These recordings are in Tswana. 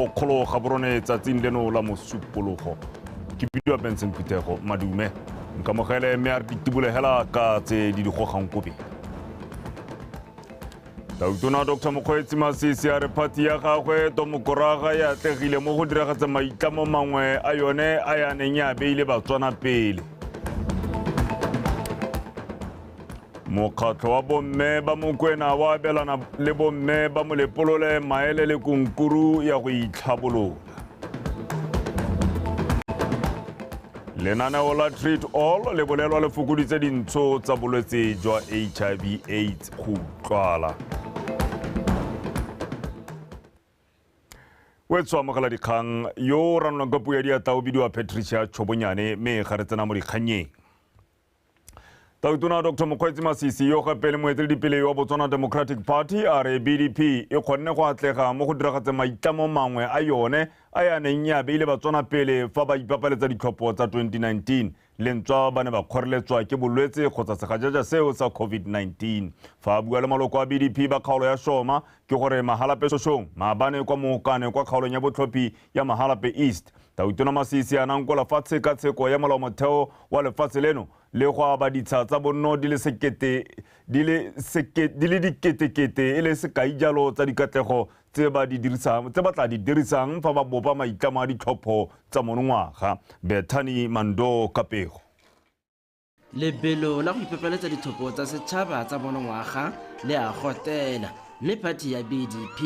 kgolo ga borone tsatsing leno la mosupologo ke bidiwa benson phuthego madume nkamogele mme a re ditibolegela ka tse di di gogang kobe tautona dr mokgweetsi masisi a re phati ya gagwe tomokoraga e atlegile mo go diragatsa maitlamo mangwe a yone a ya neng ya beile batswana pele mokgatlho wa bomme ba mokwena wa abelana le bomme ba molepolole maele le kunkuru ya go itlhabolola lenaneo la treat all le bolelwa le fokoditse dintsho tsa bolwetse jwa hiv aids go utlwala o e tswamogela dikgang yo o ranolwang ka puo ya diatla o bidiwa patricia tshobonyane mme ga re tsena mo dikgannyeng tautona dr mokgweetsi masisi yo gape le moeteledipele yo wa botswana democratic party a re bdp e kgonne go atlega mo go diragatseng maitlamo mangwe a yone a ya neng e abeile batswana pele fa ba ipapaletsa ditlhopho tsa 2019 lentswa ba ne ba kgoreletswa ke bolwetse kgotsa segajaja seo sa covid-19 fa a bua le maloko a bdp ba kgaolo ya shoma ke gore magalapesosong maabane kwa mookane kwa kgaolong ya botlhophi ya Mahalape East. Tau Tona Masisi a nankola fa tshekatsheko ya molaomotheo wa lefatshe leno le go aba ditsha tsa bonno di le sekete di le seke di le diketekete e le sekai jalo tsa dikatlego tse ba di dirisang tse ba tla di dirisang fa ba bopa maitlamo a ditlhopho tsa monongwaga. Bethany Mando Kapego. lebelo la go ipepeletsa ditlhopho tsa setšhaba tsa monongwaga le a gotela mme phathi ya bdp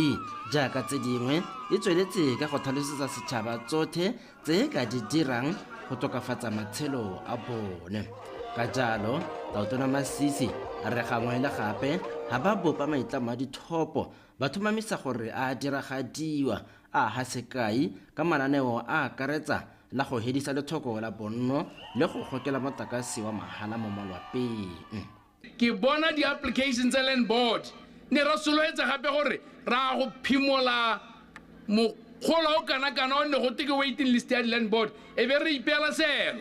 jaaka tse dingwe e tsweletse ka go tlhalosetsa setšhaba tsothe tse e ka di dirang go tokafatsa matshelo a bone ka jalo taotona masisi a re gangwe le gape ga ba bopa maitlamo a dithopo ba thomamisa gore a diragadiwa a ga sekai ka mananeo a akaretsa la go hedisa lethoko la bonno le go gokela motakase wa mahala mo malwapeng. Ke bona di-application tsa Land Board ne ra soloetsa gape gore ra go phimola mokgolo o kana-kana o ne go twe ke waiting list ya di-Land Board e be re ipeela seelo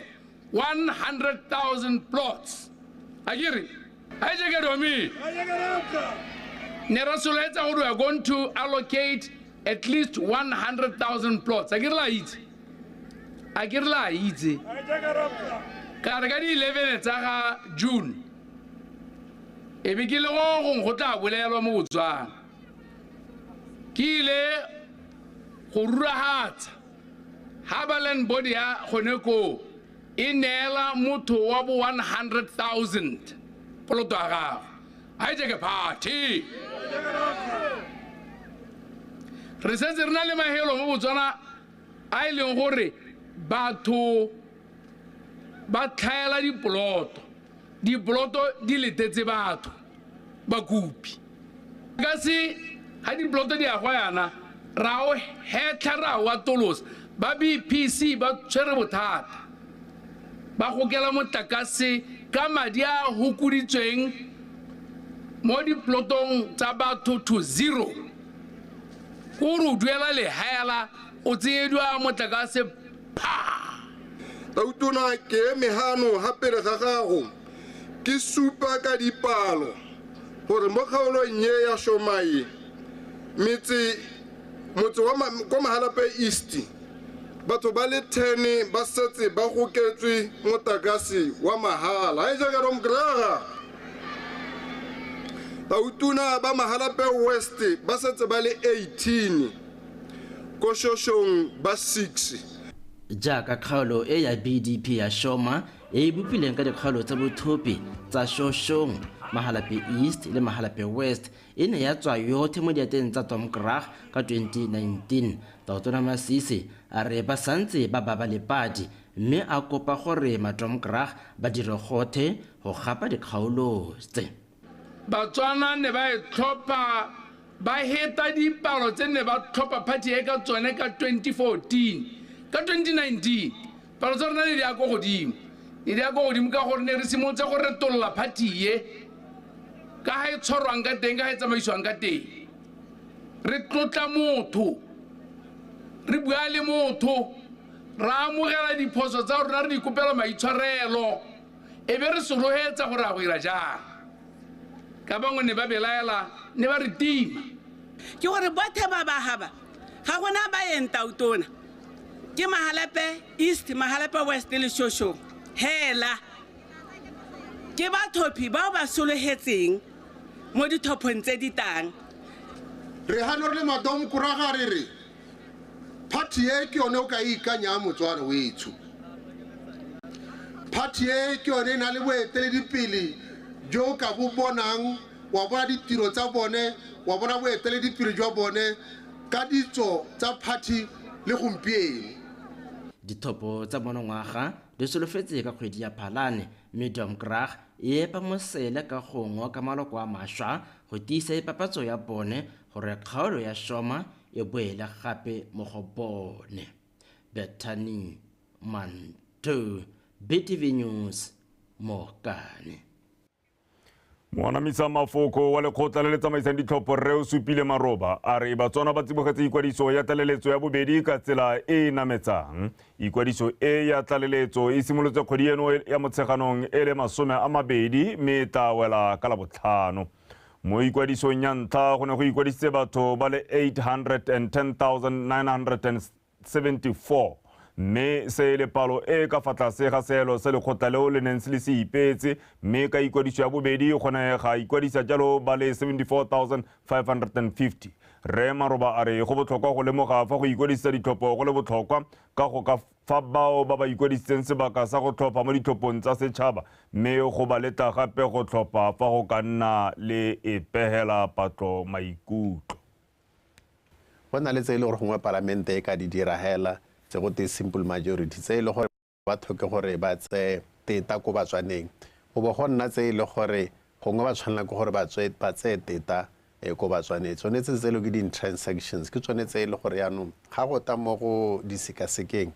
100,000 plots. Akere? Hi, Jacob Domi. Nerasoletsa gore we are going to allocate at least 100,000 plots. A ke re la itse? A ke re la itse? Ka re ka di 11 tsa ga June. E be ke le go gong go tla bolelwa mo Botswana. Ke ile go ruragatsa ha ba land board ya gone koo. E neela motho wa bo 100,000 poloto ya gagwe. A etse ke phathe. Re setse re na le mahelo mo Botswana a e leng gore batho ba tlhaela dipoloto. Dipoloto di letetse batho, bakopi. Ka se, ha dipoloto di agwa yana, ra o hetlha ra o atolosa. Ba BPC ba tshwere bothata. Ba gokela motlakase ka madi a a hokoditsweng mo dipolotong tsa batho to zero. Ko o re o duela lehaela. O tseedwa motlakase phaa! Tautona ke eme hano ha pele ga gago ke supa ka dipalo gore mo kgaolong ye ya Shomaye metse motse wa ma, kwa Mahalape East batho ba le 10 ba setse ba goketswe motakase wa mahala. Ga e jaaka Rom Graga? Tautona ba Mahalape West ba setse ba le 18. ko Shoshong ba 6. Jaaka kgaolo e ya BDP ya Shoma e e bopileng ka dikgaolo tsa bothopi tsa Shoshong, Mahalape East le Mahalape West e ne ya tswa yothe mo diateng tsa Tom Krag ka 2019. Tautona Masisi a re ba santse ba baba lepadi mme a kopa gore maTom Krag ba dire gothe go gapa dikgaolo tse. Batswana ne ba e tlhopha ba heta dipalo tse ne ba tlhopha phathi e ka tsone ka 2014. Ka 2019, palo tsa rona ne di ya ko godimo. Ne di ya ko godimo ka gore ne re simolotse go retolola phathi e, ka ga e tshwarwang ka teng, ka ga e tsamaisiwang ka teng. Re tlotla motho, re bua le motho, re amogela diphoso tsa rona, re ikopela maitshwarelo. e be re se roetsa gore a go ira jang ka bangwe ne ba belaela ne ba re tima ke gore bothe ba bagaba ga gona ba yeng tautona ke magalepe east magalepe west le shoshong hela ke bathophi bao ba sologetseng mo dithophong tse di tang re hano re le madomkoraga re re Party e ke yone o ka e ikanyang motsware wetsho. Party e ke yone e na le boeteledipele jo o ka bo bonang, wa bona ditiro tsa bone, wa bona boeteledipele jwa bone ka ditso tsa party le gompieno. Dithopo tsa monongwaga di solofetse ka kgwedi ya Phalane mme Domkrag e epa mosele ka go ngoka maloko a maswa go tiisa ipapatso ya bone gore kgaolo ya Shoma e boele gape mo go bone. Bethany Mantu, BTV News, Mokane. Moanamisa mafoko wa lekgotla le le tsamaisang ditlhopho rre o supile maroba a re batswana ba tsibogetse ikwadiso ya tlaleletso ya bobedi ka tsela e e nametsang ikwadiso e ya tlaleletso e simolotse kgwedi eno ya motsheganong e le masome a mabedi mme e tla wela ka labotlhano Mo ikwadisong ya ntlha go ne go ikwadisitse batho ba le 810,974 mme se e le palo e ka fa tlase ga seelo se lekgotla leo le neng se le se ipeetse mme ka ikwadiso ya bobedi go ne ga ikwadisa jalo ba le 74,550. Rre Maroba a re go botlhokwa go lemoga fa go ikwadisisa ditlhopho go le botlhokwa ka go ka fa bao ba ba ikwadisitseng sebaka sa go tlhopha mo ditlhophong tsa setšhaba mme go ba letla gape go tlhopha fa go ka nna le e pegela patlo maikutlo. Go na le tse e le gore gongwe palamente e ka di dira hela tse go tee simple majority tse e le gore ba tlhoke gore ba tseye teta ko batswaneng go bo go nna tse e le gore gongwe ba tshwanela ke gore ba tseye teta e ko ba tswanetse tsone tse tselo ke di-transactions ke tsone tse e le gore yaanong ga go ta mo go di sekasekeng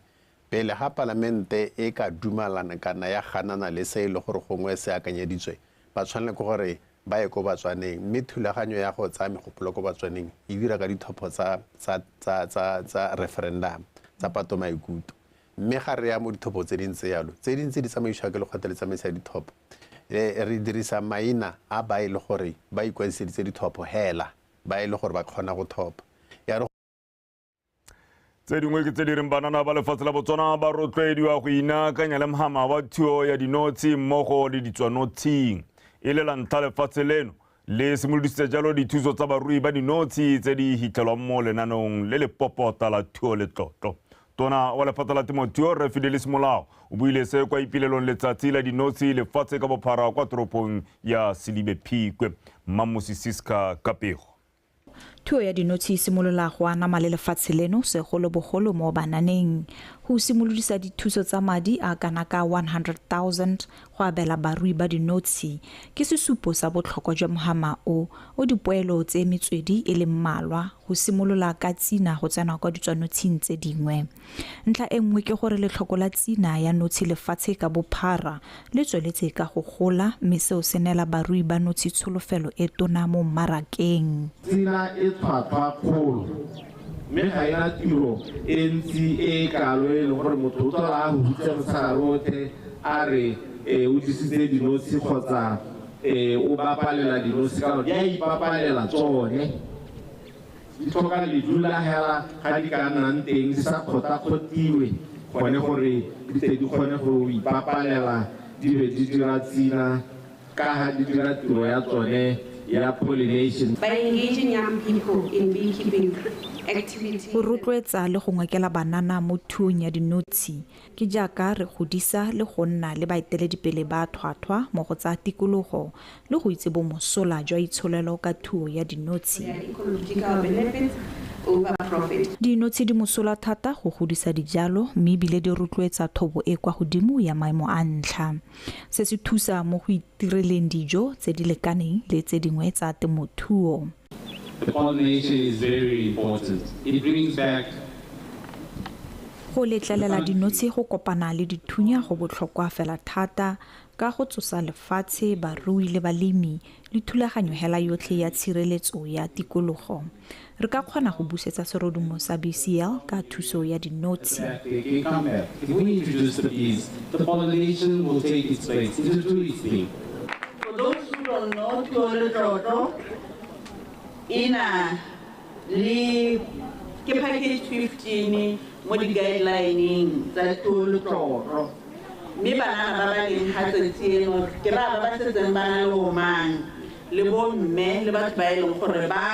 pele ga palamente e ka dumalana kana ya ganana le se e le gore gongwe se akanyeditswe ba tshwanela ke gore ba ye ko batswaneng mme thulaganyo ya go tsaya megopolo ko batswaneng e dira ka dithopho tsa tsa tsa tsa tsa referendum tsa pato maikuto Mme ga re ya mo ditlhopho tse dingwe tse yalo, tse dingwe tse di tsamaisiwa ke lekgotla le tsamaiso ya ditlhopho, re dirisa maina a ba e le gore ba ikwadiseditse ditlhopho hela, ba e le gore ba kgona go thopa. Ya re. Tse dingwe ke tse di reng banana ba lefatshe la Botswana ba rotloediwa go inaakanya le mhama wa thuo ya dinotshi mmogo le ditswanotshing. E le la ntlha lefatshe leno le simolodisitse jalo dithuso tsa barui ba dinotshe tse di hitlhelwang mo lenaneong le le popota la thuo le tlotlo tona wa lephata la temothuo re fidele semolao o buile se kwa ipilelong letsatsi la dinotshe lefatshe ka bophara kwa toropong ya sedibe phikwe mmamosi siska kapego Thuo ya dinotshe e simolola go anama le lefatshe leno, segolobogolo mo bananeng. Go simolodisa dithuso tsa madi a kana ka 100,000 go abela barui ba dinotshe ke sesupo sa botlhokwa jwa mohama o o dipoelo tse metswedi e le mmalwa go simolola ka tsina go tsena kwa ditswanotshing tse dingwe. Ntlha e nngwe ke gore letlhoko la tsina ya notshe lefatshe ka bophara le tsweletse ka go gola mme seo se neela barui ba notshe tsholofelo e tona mo mmarakeng. Tsina e tlhwatlhwa kgolo mme ga e na tiro e ntsi e e kalo e leng gore motho o tlhola a huhutse motshegare otlhe a re o jesitse dinotshe kgotsa o bapalela dinotshe ka gore di a ipapalela tsone. di tlhoka ledu la hela ga di ka nnang teng di sa kgotakgotiwe gone gore di tle di kgone go ipapalela di be di dira tsina ka ga di dira tiro ya tsone ya pollination By engaging young people in beekeeping activities, Go rotloetsa le go ngokela banana mo thuong ya dinotshi Ke jaaka re godisa le go nna le baeteledipele ba thwathwa mo go tsa tikologo le go itse bomosola jwa itsholelo ka thuo ya dinotshe. Dinotshe di mosola thata go godisa dijalo mme ebile di rotloetsa thobo e kwa godimo ya maemo a ntlha. Se se thusa mo go itireleng dijo tse di lekaneng le tse dingwe tsa temothuo. Go letlelela dinotshi go kopana le dithunya go botlhokwa fela thata ka go tsosa lefatshe, barui le balemi le thulaganyo hela yotlhe ya tshireletso ya tikologo. Re ka kgona go busetsa serodumo sa BCL ka thuso ya dinotshi. For those who don't know, Thole Tlotlo e na le ke package 15 mo di-guidelineng tsa Thole Tlotlo. Mme banana ba ba leng ga tsatsi eno ke ba ba ba setseng ba na le omang le bomme le batho ba e leng gore ba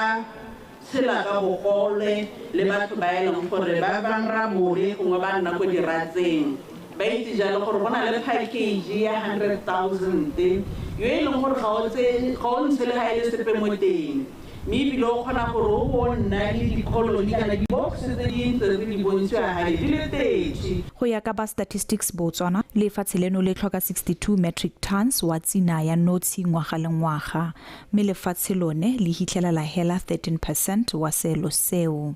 tshela ka bogole le batho ba e leng gore ba banra mobe gongwe ba nna ko diratseng ba itse jalo gore go na le package ya 100,000 yo e leng gore ga o tse ga o ntshe le ga e le sepe mo teng mme ebile o kgona gore o bo nna le dikoloni kana di-box tse di ntse re di bontshiwa gale di le thirty Go ya ka ba Statistics Botswana, lefatshe leno le tlhoka 62 metric tons wa tsina ya notshe ngwaga le ngwaga. mme lefatshe lone le hitlhela la hela 13 percent wa seelo seo.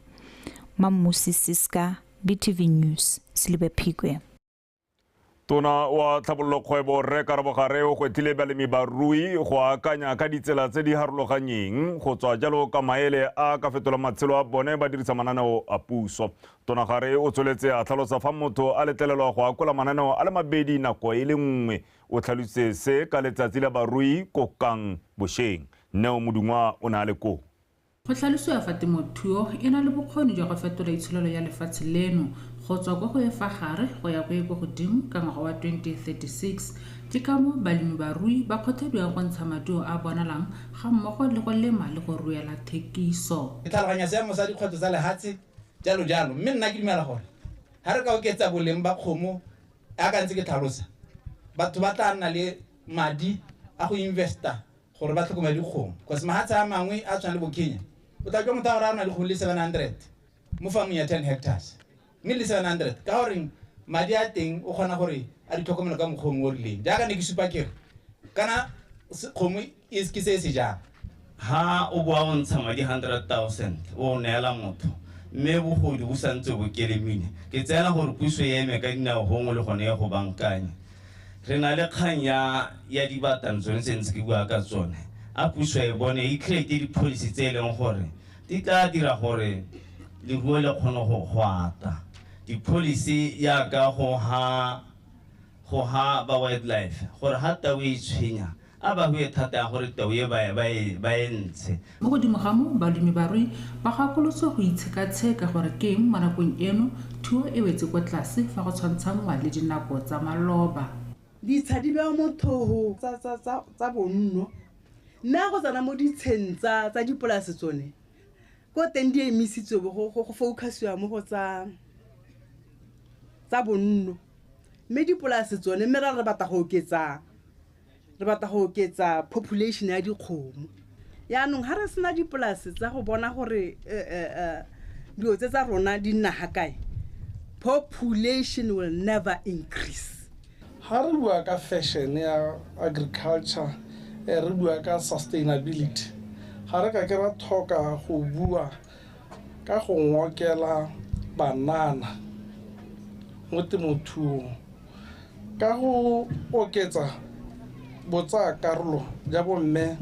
Mammusi Siska, BTV News, Selibe Phikwe. Tona wa tlhabololo kgwebo Rre Karabo Gare o gwetlhile balemi barui go akanya ka ditsela tse di harologanyeng go tswa jalo ka maele a ka fetola matshelo a bone ba dirisa mananeo a puso. Tona Gare o tsweletse a tlhalosa fa motho a letlelelwa go akola mananeo a le mabedi nako e le nngwe O tlhalositse se ka letsatsi la barui ko Kang bosheng. Neo Modungwa o ne a le koo. Go tlhalosiwa fa temothuo e na le bokgoni jwa go fetola itsholelo ya lefatshe leno go tswa ko go e fa gare go ya ko e ko godimo ka ngwaga wa 2036. Ke ka moo balemibarui ba kgothadiwang go ntsha maduo a bonalang ga mmogo le go lema le go ruela thekiso. Ke tlhaloganya seemo sa dikgwetlho tsa lehatshe, jalo jalo, mme nna ke dumela gore ha re ka oketsa boleng ba kgomo, Ya ka ntse ke tlhalosa, batho ba tla nna le madi a go investa gore ba tlhokomele dikgomo because mahatshe a mangwe a tshwana le bo Kenya o tla jwa motho a gore a na le dikgomo le 700 mo farming ya 10 hectares mme le 700 ka gore madi a teng o kgona gore a di tlhokomelo ka mokgwa o rileng jaaka ne ke supa kere kana kgomo Is ke se se jaana, Ha o bo a o ntsha madi hundred thousand o o neela motho, mme bogodu bo sa ntse bo kelemile, ke tseela gore puso e eme ka dinao gongwe le gone e go bankanye. Re na le kgang ya ya dibatang tsone tse ntse ke bua ka tsone, a puso e bone e create di-policy tse e leng gore di tla dira gore leruo le kgone go go ata. Di-policy yaka go ha go ha ba wildlife gore ha tau e itshwenya A ba hue thata ya gore tau e ba e ntshe. Mo godimo ga moo, balemi ba rui ba gakolotswe go itshekatsheka gore ke eng mo nakong eno thuo e wetse kwa tlase fa go tshwantshanngwa le dinako tsa maloba. Ditsha di bewa mo thoho tsa bonno, mme ga go tsena mo ditsheng tsa dipolase tsone ko teng di emisitswe bo go focus-iwa mo go tsa bonno. Mme dipolase tsone, mme ra re batla go oketsa re batla go oketsa population ya dikgomo yaanong ga re sena dipolase tsa go bona gore eh, eh, eh, dilo tse tsa rona di nna ga kae population will never increase ha re bua ka fashion ya agriculture eh, re bua ka sustainability ga re ka ke ra tlhoka go bua ka go ngokela banana mo temothuong ka go oketsa botsayakarolo ja bomme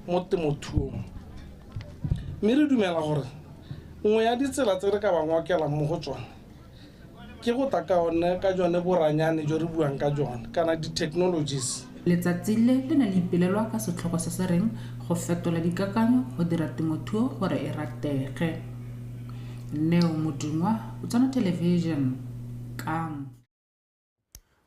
mo temothuong. Mme re dumela gore nngwe ya ditsela tse re ka ba ngokelang mo go tsone ke go tla ka one ka jone boranyane jo re buang ka jone kana di-technologies. Letsatsi le le ne le ipelelwa ka setlhogo se se reng Go Fetola Dikakanyo go Dira Temothuo Gore e Ratege. Neo Modungwa, Botswana Television, Kamo.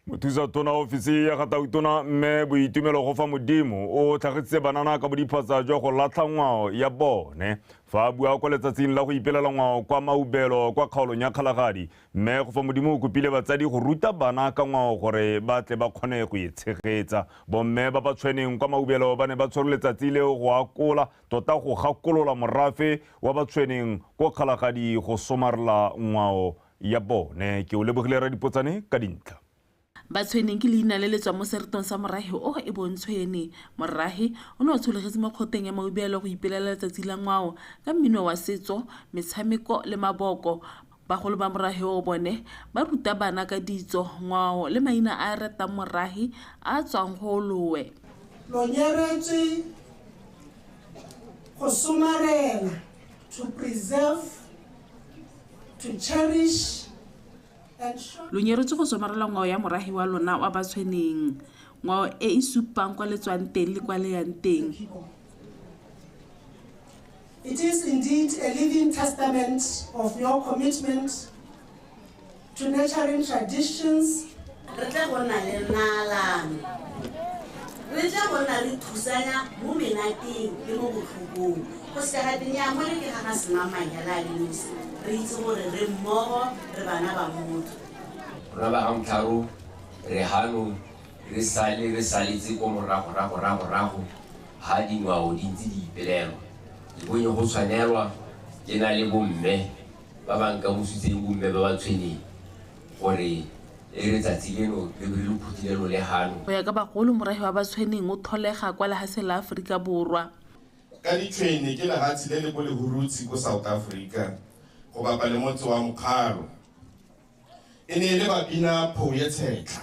mothusa tona ofisi ya gatautona mme boitumelo go fa modimo o tlhagisitse banana ka bodiphatsa jwa go latlha ngwao ya bone fa a bua kwa letsatsing la go ipelela ngwao kwa maubelo kwa kgaolong ya kgalagadi mme go fa modimo o kopile batsadi go ruta bana ka ngwao gore ba tle ba kgone go e tshegetsa bomme ba ba tshweneng kwa maubelo ba ne ba tshwere letsatsi leo go akola tota go gakolola morafe wa ba tshweneng ko kgalagadi go somarela ngwao ya bone ke o lebogile radipotsane ka dintlha Batshweneng ke leina le le tswa mo seretong sa morahe o e bong Tshwene. Morahe o ne o tsholegetse mo kgoteng ya Maubeelo go ipelela letsatsi la ngwao ka mmino wa setso, metshameko le maboko. Bagolo ba morahe o bone ba ruta bana ka ditso, ngwao le maina a a ratang morahe a a tswang go oloe. Lo nyeretswe go somarela, to preserve, Lo nyeretswe go somarela ngwao ya moragi wa lona wa batshweneng, ngwao e e supang kwa le tswang teng le kwa le yang teng. It is indeed a living testament of your commitment to nurturing traditions Re tle go nna le naalano. Re tle go nna re thusanya mo menateng le mo botlhokong. Go seka ga te, Nnyaa, mole ke ga ga Semamang hela a le nosi. Re itse gore re mmogo, re bana ba motho. Rra Bagamtharo, re hanong re sale re saletse ko morago, rago, rago, rago ha dingwao di ntse di ipelelwa. Ke bonye go tshwanelwa ke na le bomme ba ba nkamositseng, bomme ba ba tshweneng. gore e re tsatsi leno le be le phuthile lo le gano. Go ya ka bagolo, morahi wa Batshweneng o tholega kwa lehaseng la Aforika Borwa. Ka Ditshwene ke lehatshe le le ko Lehurutshi ko South Africa go bapa le motse wa Mokgalo. E ne e le babina Phouye Tshetlha.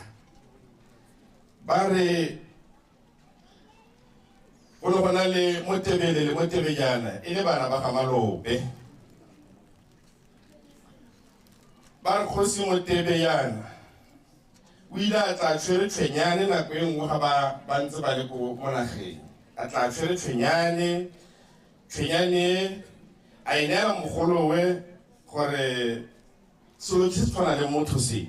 Ba re go ne go na le Motebele le Motebejana e le bana ba ga Malope. ba re kgosi motebe yana o ile a tla tshwere tshwenyane nako e nngwe ga ba ba ntse ba le ko mo nageng a tla tshwere tshwenyane tshwenyane a e neela mogolowe gore selo se se tshwana le motho se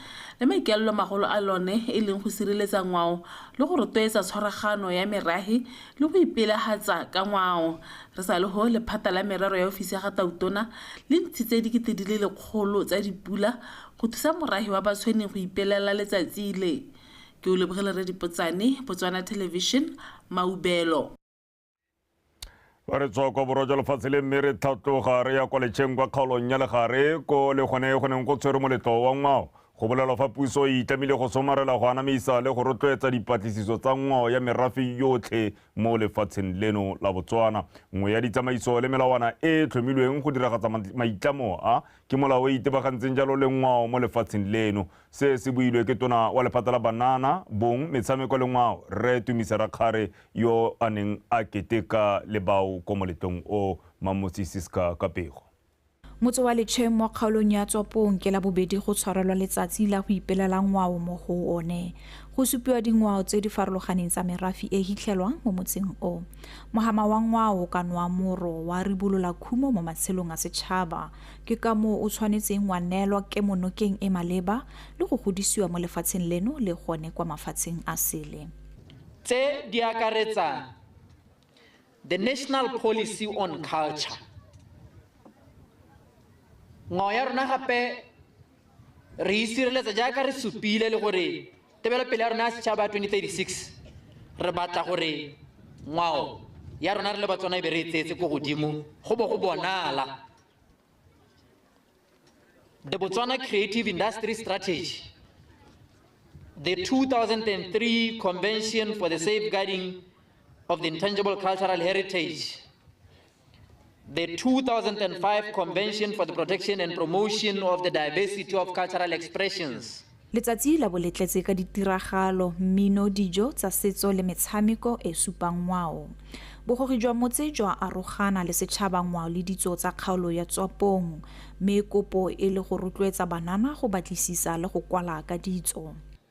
le maikaelelomagolo a lone e leng go sireletsa ngwao le go rotloetsa tshwaragano ya merahi le go ipelahatsa ka ngwao. Re sa le ho, lephata la merero ya ofisi ya ga Tautona le ntshitse dikete di le lekgolo tsa dipula go thusa morahi wa Batshweneng go ipelela letsatsi le. Ke Oleboge Leredipotsane, Botswana Television, Maubelo. ba re tswa kwa borwa jwa lefatshe le mme re tlhatloga re ya kwa letšheng kwa kgaolong ya legare ko le gone go neng go tshwere moletlo wa ngwao go bolelwa fa puso e itlamile go somarela go anamisa le go rotloetsa dipatlisiso tsa ngwao ya merafe yotlhe mo lefatsheng leno la botswana nngwe ya ditsamaiso le melawana e e tlhomilweng go diragatsa maitlamo a Ke molao o o itebagantseng jalo le ngwao mo lefatsheng leno. Se se builwe ke tona wa lephata la Banana, Bong, Metshameko le Ngwao, Rre Tumisa Rakgare yo a neng a keteka le bao ko moletlong o. Mammotsi Siska Kapego. Motse wa Letsheng mo kgaolong ya Tswapong ke Labobedi go tshwarelwa letsatsi la go ipelela ngwao mo go one. Go supiwa dingwao tse di farologaneng tsa merafi e hitlhelwang mo motseng o. Mogama wa ngwao o ka nwa moro wa ribolola khumo mo matshelong a setšhaba. Ke ka moo o tshwanetseng wa neelwa kemonokeng e maleba le go godisiwa mo lefatsheng leno le gone kwa mafatsheng a sele. Tse di akaretsang The National Policy on Culture, Ngwao ya rona gape re isireletsa jaaka re supile le gore tebelopele ya rona ya setšhaba ya 2036 re batla gore ngwao ya rona re le batswana e be re e tseetse ko godimo go bo go bonala the botswana creative industry strategy the 2003 convention for the safeguarding of the intangible cultural heritage the 2005 Convention for the Protection and Promotion of the Diversity of Cultural Expressions. Letsatsi la bo le tletse ka ditiragalo, mmino, dijo tsa setso le metshameko e supang ngwao. Bogogi jwa motse jwa arogana le setšhaba ngwao le ditso tsa kgaolo ya Tswapong, mme kopo e le go rotloetsa banana go batlisisa le go kwala ka ditso.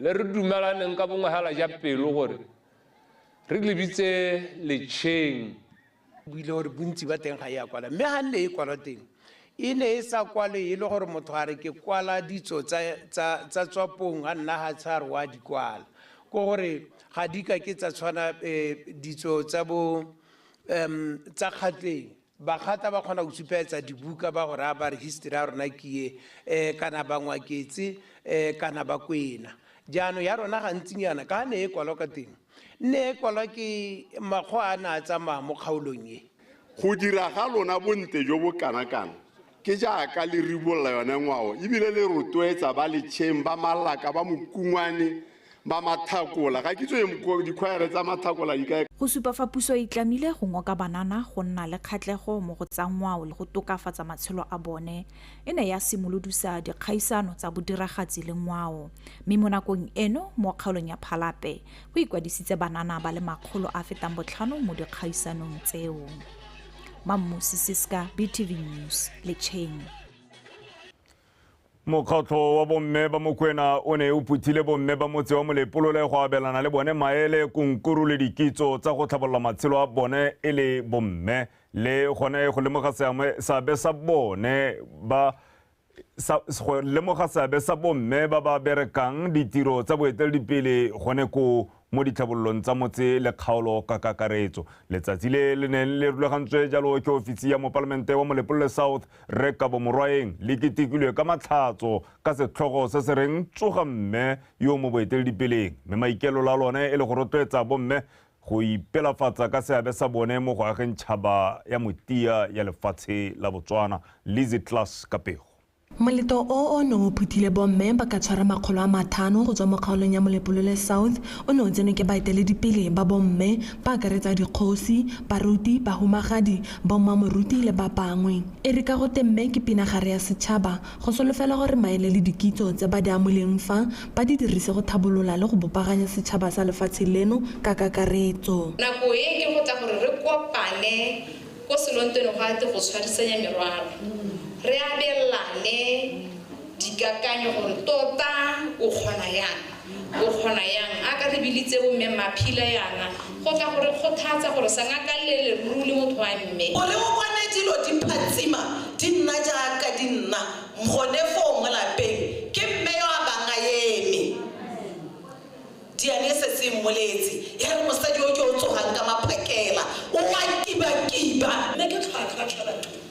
Le re dumalaneng ka bongwagala ja pelo gore re lebitse letšheng. Buile gore bontsi ba teng ga e a kwala mme ga nne e kwalwa teng e ne e sa kwalwe e le gore motho a re ke kwala ditso tsa tswapong a nna ga tshware wa di kwala ko gore ga di ka ke tsa tshwana ditso tsa bo tsa kgatleng. Bagata ba kgona go supaetsa dibuka ba go raya ba re history ya rona ke ye um kana bangwaketse um kana bakwena. Jaanong ya rona gantsinyana ka ne e kwalwa ka teng nne e kwalwa ke makgoa a ne a tsamaya mo kgaolong e. Go dira ga lona bontle jo bo kana kang Ke jaaka le ribolola yone ngwao e bile le rotloetsa ba letšheng ba Malaka, ba Mokungwane, ba Mathakola. Ga ke tswe dikhwaere tsa Mathakola di ka. Go supa fa puso e tlamile go ngoka banana go nna le kgatlego mo go tsa ngwao le go tokafatsa matshelo a bone, e ne ya simolodusa dikgaisano tsa bodiragatsi le ngwao. Mme mo nakong eno mo kgaolong ya Phalape, go ikwadisitse banana ba le makgolo a fetang botlhano mo dikgaisanong tseo. mammosi seska btv news letšheng mokgatlho wa bomme ba mokwena o ne o phuthile bomme ba motse wa molepolole go abelana le bone maele konkuru le dikitso tsa go tlhabolola matshelo a bone e le bomme le gone go lemoga seabe sa bone ba go lemoga seabe sa bomme ba ba berekang ditiro tsa boeteledipele gone ko mo ditlhabololong tsa motse le kgaolo ka kakaretso letsatsi le le neng le rulagantswe jalo ke ofisi ya mopalamente wa molepolole south re kabo morwaeng le ketekilwe ka matlhatso ka setlhogo se se reng tsoga mme yo mo boeteledipeleng mme maikelola lone e le go rotloetsa bomme go ipelafatsa ka seabe sa bone mo go ageng tšhaba ya motia ya lefatshe la Botswana, Lizzy Klass ka pego. Moletlo o o neng o phuthile bomme ba ka tshwara makgolo a mathano go tswa mo kgaolong ya Molepolole South o ne o tsenwe ke baeteledipele ba bomme ba akaretsa dikgosi, baruti, bahumagadi, bommamoruti le ba bangwe. E re ka go te mme ke pinagare ya setšhaba, Go solofela gore maele le dikitso tse ba di amoleng fa, ba di dirise go tlhabolola le go bopaganya setšhaba sa lefatshe leno ka kakaretso. Nako e e go tla gore re kopane ko Selontwene go ate go tshwarisanya merwalo, re abelane dikakanyo gore tota o kgona yang. Go kgona yang? A ka re bilitse bo Mme Maphila yana go tla go re kgothatsa gore sa ngakalle leruri le motho wa mme. O re o bone dilo di phatsima di nna jaaka di nna gone foo mo lapeng. Ke Mme yo a bang a eme. Diane e setse e mmoletse ya re, Mosadi yo ke o tsogang ka maphakela o a kibakiba. Mme ke tlhwatlhwa tlhwatlhwa.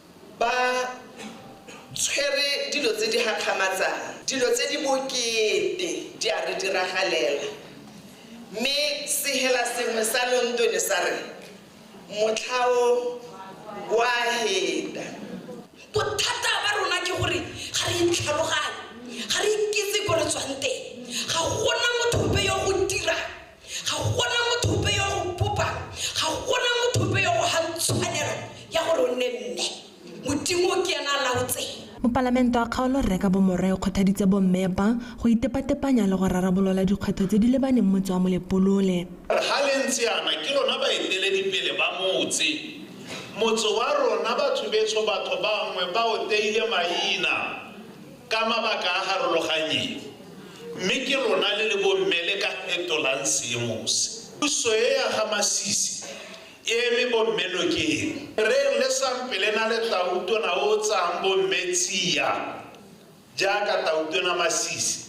Ba tshwere dilo tse di gakgamatsang. Dilo tse di bokete di a re diragalela. Mme sehela sengwe sa lonto ne sa re, Motlha o o a heta. Bothata ba rona ke gore ga re itlhaloganye. Ga re ikitse ko re tswang teng. Ga gona motho ope yo o dirang. ga gona motho ope yo go bopang ga gona motho ope yo go gang tshwanelo ya gore o nne mme modimo ke ena a laotseng Mopalamento wa kgaolo Rre ka Bomorwa o kgothaditse bomme ba go itepatepanya le go rarabolola dikgwetlho tse di lebaneng motse wa Molepolole. Re ga le ntse yana ke lona baeteledipele ba motse. Motse wa rona batho betsho batho bangwe ba o teile maina. Ka mabaka a harologanyeng, mme ke lona le le bomme le ka fetolang seemo se. Puso e ya ga Masisi e eme bomme nokeng. Reng le sampele na le Tautona o o tsayang bomme tsia jaaka Tautona Masisi?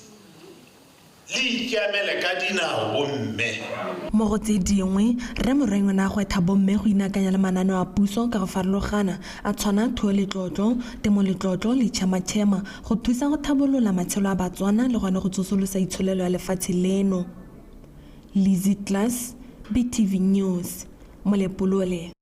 Le ikiamele ka dinao bomme. Mo go tse dingwe, Rre Morwenyo ne a gwetha bomme go inakanya le mananeo a puso ka go farologana, a tshwana Thuo le Tlotlo, Temo le Tlotlo le Tšhema Tšhema, go thusa go thabolola matshelo a Batswana le gone go tsosolosa itsholelo ya lefatshe leno. Lizzy Klass, BTV News, Molepolole.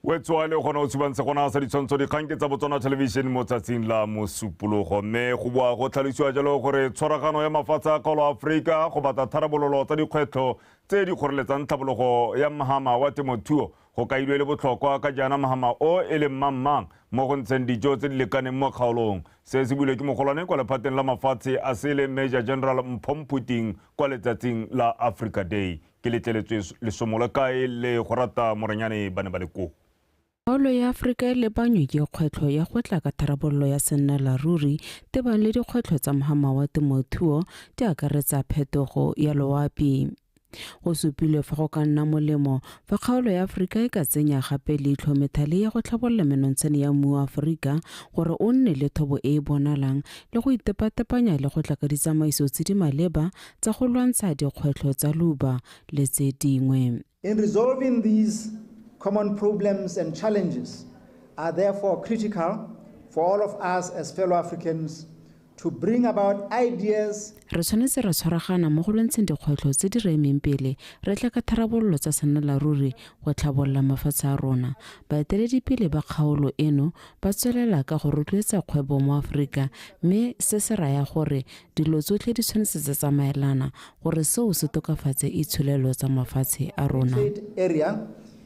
wetsoale o kgona go tshubantsha gona sa ditshwantsho dikgang ke tsa botswana television mo tsatsing la mosupologo mme go boa go tlhalosiwa jalo gore tshwaragano ya mafatshe a kgaolo aforika go batla tharabololo tsa dikgwetlho tse di kgoreletsang tlhabologo ya mmagama wa temothuo Go kailwe e le botlhokwa ka jaana mohama o e leng mang-mang mo go ntsheng dijo tse di lekaneng mo kgaolong. Se se builwe ke mogolwane kwa lephateng la mafatshe a sele Major General Mpho Mphuting kwa letsatsing la Africa Day. Ke letleletswe lesomo la kae le go rata morenyane ba ne ba le koo. Kgaolo ya Afrika e lebanywe ke kgwetlho ya go tla ka tharabololo ya sennalaruri tebang le dikgwetlho tsa mohama wa temothuo di akaretsa phetogo ya loapi. Go supilwe fa go ka nna molemo fa kgaolo ya Aforika e ka tsenya gape leitlho methale ya go tlhabolola menontshane ya mmu wa Aforika gore o nne le thobo e e bonalang le go itepatepanya le go tla ka ditsamaiso tse di maleba tsa go lwantsha dikgwetlho tsa leuba le tse dingwe. In resolving these common problems and challenges are therefore critical for all of us as fellow Africans to bring about ideas. Re tshwanetse ra tshwaragana mo go lwantsheng dikgwetlho tse di re emeng pele re tla ka tharabololo tsa sennalaruri go tlhabolola mafatshe a rona. Baeteledipele ba kgaolo eno ba tswelela ka go rotloetsa kgwebo mo Aforika mme se se raya gore dilo tsotlhe di tshwanetse tsa tsamaelana gore seo se tokafatse itsholelo tsa mafatshe a rona.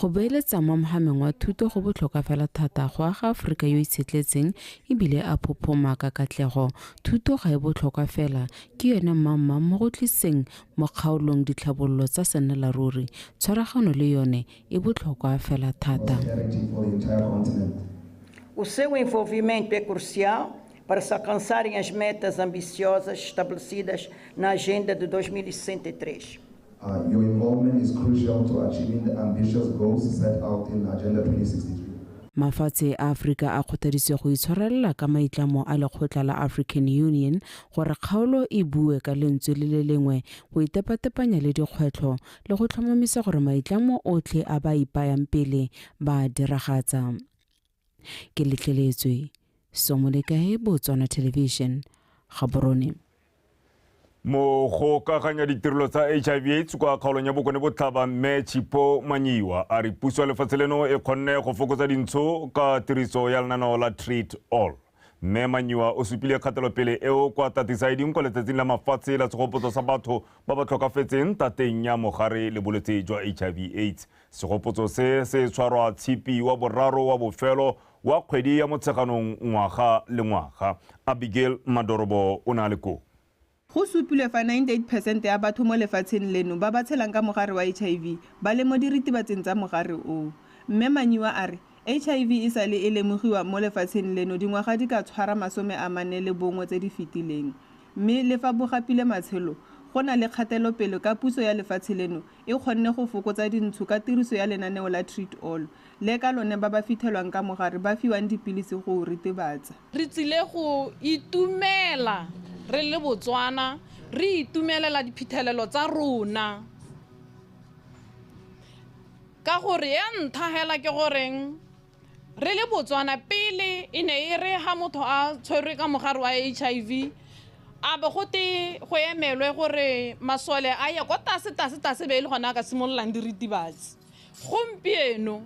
Go beeletsa mo mogameng wa thuto go botlhokwa fela thata go aga Aforika yo itshetletseng e bile a phophoma ka katlego. Thuto ga e botlhokwa fela, ke yone mmangmang mo go tliseng mo kgaolong ditlhabololo tsa sennelaruri. Tshwaragano le yone e botlhokwa fela thata. O seu envolvimento é crucial para se alcançarem as metas ambiciosas estabelecidas na Agenda de 2063. Uh, your involvement is crucial to achieving the ambitious goals set out in Agenda 2063. Mafatshe a Afrika a kgothaditswe go itshwarelela ka maitlamo a lekgotla la African Union gore kgaolo e bue ka lentswe le le lengwe go itepatepanya le dikgwetlho le go tlhomamisa gore maitlamo otlhe a ba ipayang pele ba a diragatsa. Ke letleletswe. Somolekae, Botswana Television, Gaborone. Mogokaganya ditirelo tsa HIV AIDS kwa kgaolong ya Bokone Botlhaba Mme Chipo Manyiwa a re puso ya lefatshe leno e kgonne go fokotsa dintsho ka tiriso ya lenaneo la Treat All. Mme Manyiwa o supile kgatelopele eo kwa Tatisaiding kwa letsatsing la mafatshe la segopotso sa batho ba ba tlhokafetseng tateng ya mogare le bolwetse jwa HIV AIDS. Segopotso se se tshwarwa Tshipi wa boraro wa bofelo wa kgwedi ya Motsheganong ngwaga le ngwaga. Abigail Madorobo o ne a le koo. Go supilwe fa 98 percent ya batho mo lefatsheng leno ba ba tshelang ka mogare wa HIV ba le mo diritibatsing tsa mogare o. Mme Manyiwa a re HIV e sale e lemogiwa mo lefatsheng leno dingwaga di ka tshwara masome a mane le bongwe tse di fetileng mme le fa bo gapile matshelo go na le kgatelopele ka puso ya lefatshe leno e kgonne go fokotsa dintsho ka tiriso ya lenaneo la Treat All le ka lone ba ba fithelwang ka mogare ba fiwang dipilisi go o ritibatsa. Re tsile go itumela re le Botswana re itumelela diphitlhelelo tsa rona ka gore ya ntha hela ke goreng re le Botswana pele e ne e re ha motho a tshwerwe ka mogare wa H_I_V a be go te go emelwe gore masole a ye ko tlase tlase tlase be e le gona a ka simololang diritibatsi gompieno.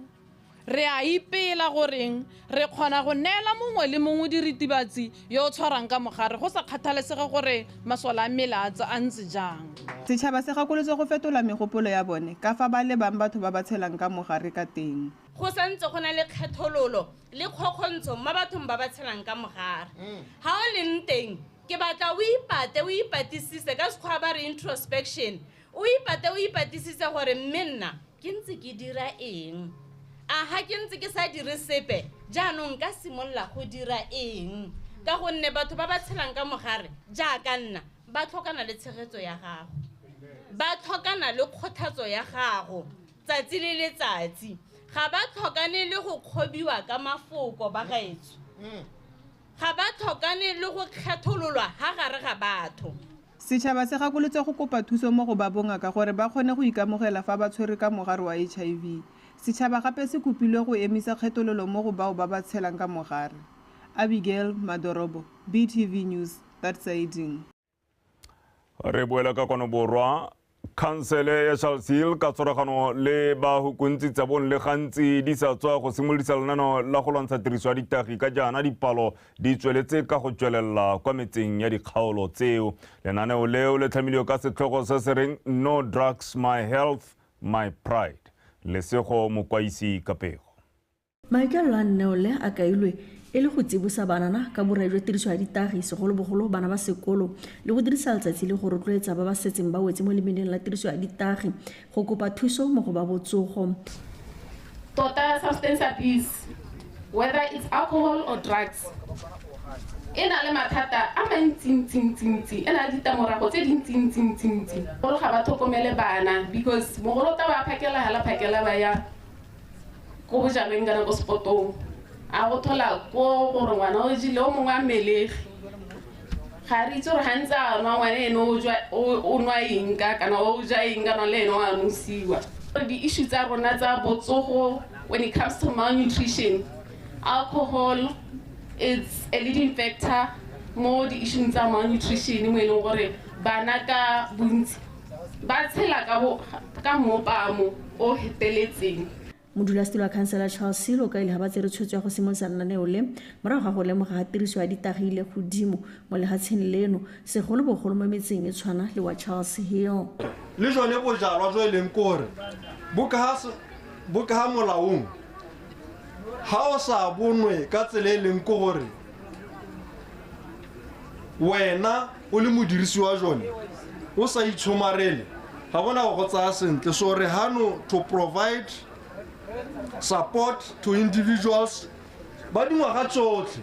Re a ipela goreng re kgona go neela mongwe le mongwe diritibatsi yo o tshwarang ka mogare go sa kgathalesege gore masole a mmele a a ntse jang. Setšhaba se gakolotswe go fetola megopolo ya bone ka fa ba lebang batho ba ba tshelang ka mogare ka teng. Go santse go na le kgethololo le kgokgontsho mo bathong ba ba tshelang ka mogare. Ga o leng teng, ke batla o ipate o ipatisise, ka Sekgowa ba re introspection, O ipate o ipatisitse gore mme nna ke ntse ke dira eng? A ga ke ntse ke sa dire sepe jaanong ka simolola go dira eng? Ka gonne batho ba ba tshelang ka mogare jaaka nna ba tlhokana le tshegetso ya gago. Ba tlhokana le kgothatso ya gago tsatsi le letsatsi. Ga ba tlhokane le go kgobiwa ka mafoko ba gaetsho. Ga ba tlhokane le go kgethololwa ha gare ga batho. Setšhaba se gakolotse go kopa thuso mo go ba bongaka gore ba kgone go ikamogela fa ba tshwerwe ka mogare wa HIV. Setšhaba gape se kopilwe go emisa kgethololo mo go bao ba ba tshelang ka mogare. Abigail Madorobo, BTV News, Thatsaiding. re boela ka kwano borwa khansele ya charlesil ka tshwaragano le bahukuntsi tsa bong le gantsi di sa tswa go simolodisa lenano la go lwantsha tiriso ya ditagi ka jaana dipalo di tsweletse ka go tswelela kwa metseng ya dikgaolo tseo lenaneo leo le tlhamilwe ka setlhogo se se reng no drugs my health my pride lesego mokwaisi ka pego Maikaelelo a nneo le a kailwe e le go tsibosa banana ka borai jwa tiriso ya ditagi, segolobogolo bana ba sekolo, le go dirisa letsatsi le go rotloetsa ba ba setseng ba wetse mo lemeneng la tiriso ya ditagi go kopa thuso mo go ba botsogo. Tota substance abuse, whether it's alcohol or drugs, e na le mathata a mantsintsintsintsi, e na le ditamorago tse dintsintsintsintsi. Gore ga ba tlhokomele bana because mogolo o tla ba phakela hala phakela ba ya. ko bojaneng kana ko sepotong a go thola ko gore ngwana o jile o mongwe a melegi ga re itse gore gantse a nwa ngwana ene o jwa- o- o nwa eng ka kana o ja eng kana le ene o a nosiwa di-issue tsa rona tsa botsogo when it comes to malnutrition alcohol it's a leading factor mo di-issueng tsa malnutrition mo e leng gore bana ka bontsi ba tshela ka bo- ka mmopaamo o feteletseng modulasetilo wa khansela charles selo ka ile ga ba tsere tshwetso ya go simolosa lenaneo le morago ga go lemoga ga tiriso ya ditagi ile godimo mo legatsheng leno segolobogolo mo metseng e tshwana le wa charles hill le jone bojalwa jo e leng kore bo ka se- bo ka molaong ga o sa bonwe ka tsela e leng kore wena o le modirisi wa jone o sa itshomarele ga gona go go tsaya sentle so re hano to provide support to individuals ba dingwaga tsotlhe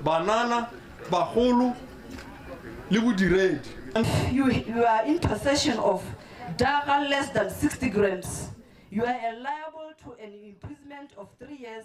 banana bagolo le bodiredi you, you are in possession of daga less than 60 grams, you are liable to an imprisonment of three years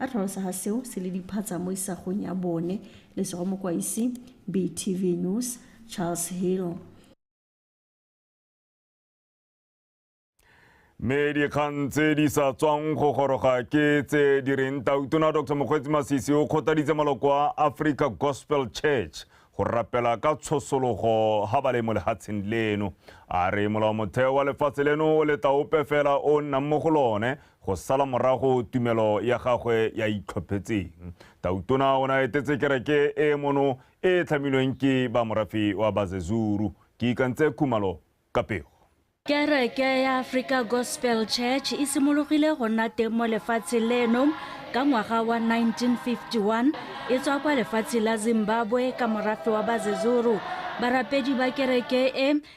A tlhalosa ga seo se le diphatsa mo isagong ya bone le sego mokwaisi BTV News Charles Hill. mme dikgang tse di sa tswang go goroga ke tse di reng tautona dr mokgweetsi masisi o kgothaditse maloko a africa gospel church go rapela ka tshosologo ga ba le mo lehatsheng leno a re molaomotheo wa lefatshe leno o letla ope fela o nnang mo go lone Go sala morago tumelo ya gagwe ya itlhophetseng, Tautona o ne a etetse kereke e e mono e e tlhamilweng ke ba morafe wa Bazezuru. Ke ikantse Khumalo ka pego. Kereke ya Africa Gospel Church e simologile go nna teng mo lefatsheng leno ka ngwaga wa 1951 e tswa kwa lefatsheng la Zimbabwe ka morafe wa Bazezuru. Barapedi ba kereke e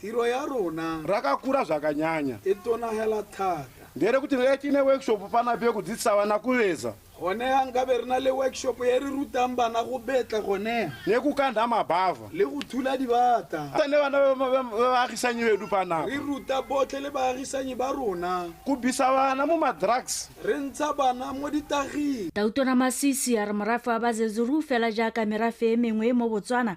Tiro ya rona. Rakakura zvakanyanya. I tonahela thata. Ndere kuti re tine workshop pana bye ku dzitsa vana ku veza. Gone ha nkabe re na le workshop ye re rutang bana go betla gone. Ne ku kandha mabava. Le go thula dibata. Ne bana ba baagisanyi bedu panapa. Re ruta botlhe le baagisanyi ba rona. Ku bisa bana mo ma drugs. Re ntsha bana mo ditaging. Tautona Masisi a re morafe wa Bazezuru fela jaaka merafe e mengwe mo Botswana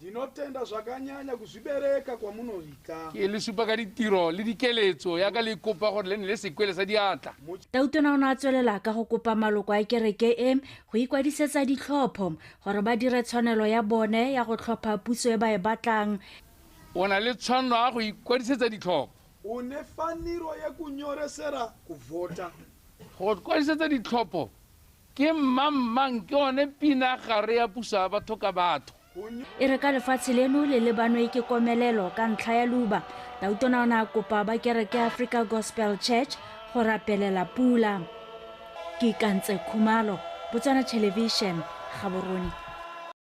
Ndinotenda zvakanyanya kuzvibereka kwamunoita. Ke le supa ka ditiro le dikeletso ya ka le kopa gore le nne le sekwele sa diatla. Tautona o ne a tswelela ka go kopa maloko a kereke e go ikwadisetsa ditlhopho gore ba dire tshwanelo ya bone ya go tlhopha puso e ba e batlang. O na le tshwanelo ya go ikwadisetsa ditlhopho. U ne faniro ye kunyoresera kuvhota. Go kwadisetsa ditlhopho. Ke Mmang Mang ke one pina gare ya puso ya batho ka batho. E re ka lefatshe leno le lebanwe ke komelelo ka ntlha ya luba, tautona o ne a kopa ba kereke ya Africa Gospel Church go rapelela pula. Ke Ikantse Khumalo, Botswana Television, Gaborone.